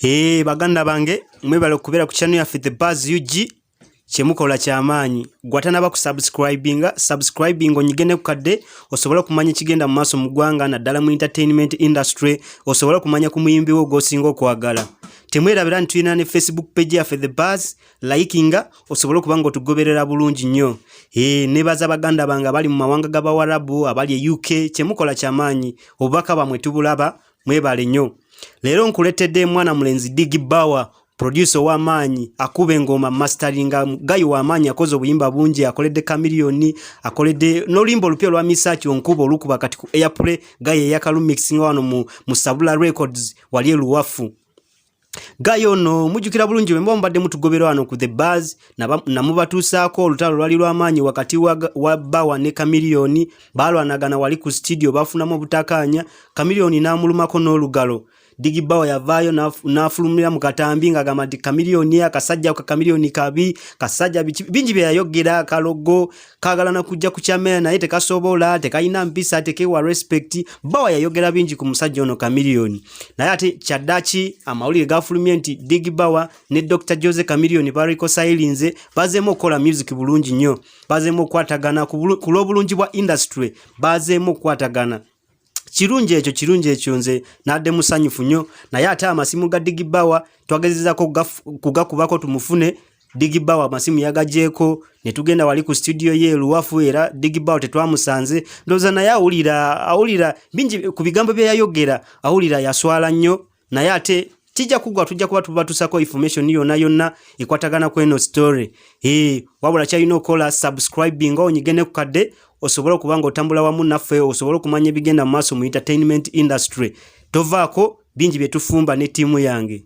Eee eh, baganda bange mwebale okubeera ku channel yaffe The Buzz UG kyemukola kyamaanyi gwatanaba ku subscribinga subscribing onyige ne kukadde osobola okumanya ekigenda mu maaso mu ggwanga naddala mu entertainment industry osobola okumanya ku muyimbi wo gw'osinga okwagala temwerabira nti tulina ne facebook page yaffe the bars likinga osobole okuba nga otugoberera bulungi nnyo e, nebaza baganda bange abali mu mawanga g'abawarabu abali e uk kyemukola kyamaanyi obubaka bwamwe tubulaba mwebale nnyo leero nkuleetedde mwana mulenzi digi bawa producer w'amaanyi akuba engoma masteringa gayi w'amaanyi akoze obuyimba bungi akoledde kamiliyoni akoledde n'oluyimba olupya olwa misaaki onkuba olukuba kati ku airplay gayi eyakalumixinga wano mu, mu sabula records wali eluwafu Gayo ono mujjukira bulungi bwemuba mubadde mutugoberwa wano ku the bars namubatuusaako olutalo lwali lw'amaanyi wakati wa bawa ne kamiliyoni baalwanagana wali ku sitidiyo baafunamu obutakaanya kamiliyoni n'amulumako n'olugalo digi bawa yavaayo n'afulumira mu katambi ng'agamba nti kamiliyoni akasajja ka kamiliyoni kabi kasajja bingi bye yayogera kalogo kagala na kujja ku chamera naye tekasobola tekalina mpisa tekewa respect bawa yayogera bingi ku musajja ono chameleon naye ate kyadaki amawulire gafulumye nti dig bawa ne dr jose chameleon bariko silinze bazemu okola music bulungi nnyo bazemu okwatagana ku lw'obulungi bwa industry bazemu okwatagana kirungi ekyo kirungi ekyo nze nadde musanyufu nnyo naye ate amasimu ga digi bawa twagezezako kugakubako tumufune digi bawa amasimu yagajeeko ne tugenda wali ku situdiyo ye luwafu era digi bawa tetwamusanze ndowooza naye awulira awulira bingi ku bigambo bye yayogera awulira yaswala nnyo naye ate kijja kugwa tujja kuba tubatusako information yona yonna ekwatagana ku eno story ee wabula kyalina okukola subscribing nga onyige ne ku kadde osobole okuba nga otambula wamu naffe osobole okumanya ebigenda mu maaso mu entertainment industry tovaako bingi bye tufumba ne ttiimu yange